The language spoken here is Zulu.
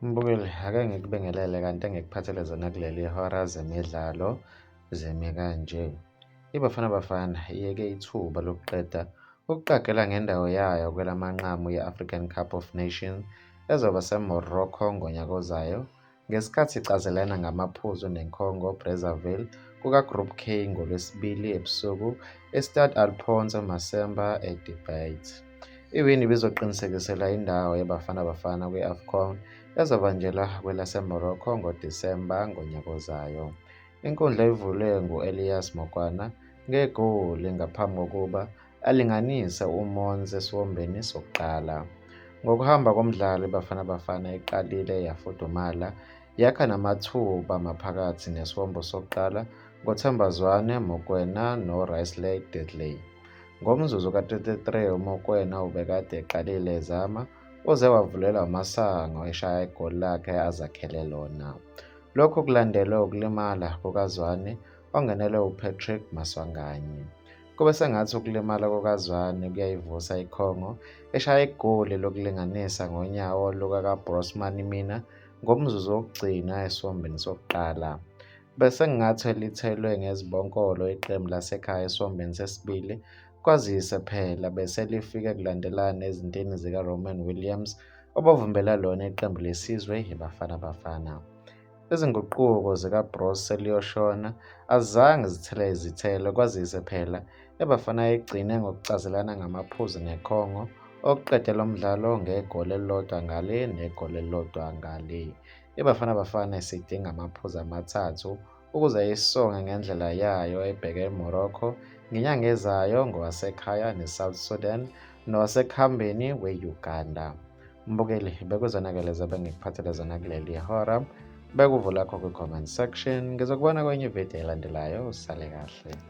Mbukeli, ake ngikubingelele kanti engikuphathele zona kuleli hora zemidlalo zemi kanje. IBafana Bafana iyeke ithuba lokuqeda ukuqagela ngendawo yayo kwelamanqamu ye-African Cup of Nations ezoba seMorocco ngonyaka ozayo Ngesikhathi icazelana ngamaphuzu neNkongo Brazzaville kukaGroup K ngoLwesibili ebusuku eStade Alphonse Masemba eDebate. Iwini ibizoqinisekisela indawo yeBafana Bafana kwi-AFCON ezobanjelwa kwelaseMorocco ngoDisemba ngonyaka ozayo. Inkundla ivulwe ngu-Elias Mokwana ngegoli ngaphambi kokuba alinganise uMons esiwombeni sokuqala. Ngokuhamba komdlalo iBafana Bafana iqalile yafudumala yakha namathuba maphakathi nesiwombo sokuqala ngoThemba Zwane, Mokwena noRisley Deadley. Ngomzuzu ka-33 uMokwena ubekade eqalile ezama uze wavulelwa amasango eshaya igoli lakhe azakhele lona. Lokhu kulandelwe ukulimala kukaZwane ongenelwe uPatrick Maswanganyi. Kube sengathi ukulimala kukaZwane kuyayivusa iCongo eshaya igoli lokulinganisa ngonyawo lukakaBrosman Mina ngomzuzu wokugcina esiwombeni sokuqala. Bese kungathi lithelwe ngezibonkolo iqembu lasekhaya esiwombeni sesibili kwazise phela bese lifike kulandelana ezintini zikaRoman Williams obavumbela lona iqembu lesizwe yiBafana Bafana. Izinguquko zikaBroos seliyoshona azange zithele izithelo kwazise phela eBafana igcine ngokucazelana ngamaphuzu neCongo okuqede lo mdlalo ngegoli elilodwa ngale negoli elilodwa ngale. IBafana Bafana isidinga amaphuzu amathathu ukuze isonge ngendlela yayo ebheke eMorocco ngenyanga ezayo ngowasekhaya neSouth Sudan nowasekuhambeni we-Uganda. Mbukeli, bekuzonakele zobe ngikuphathele zona kuleli hora. Bekuvula kho kwi-comment section. Ngizokubona kwenye ividiyo elandelayo. Usale kahle.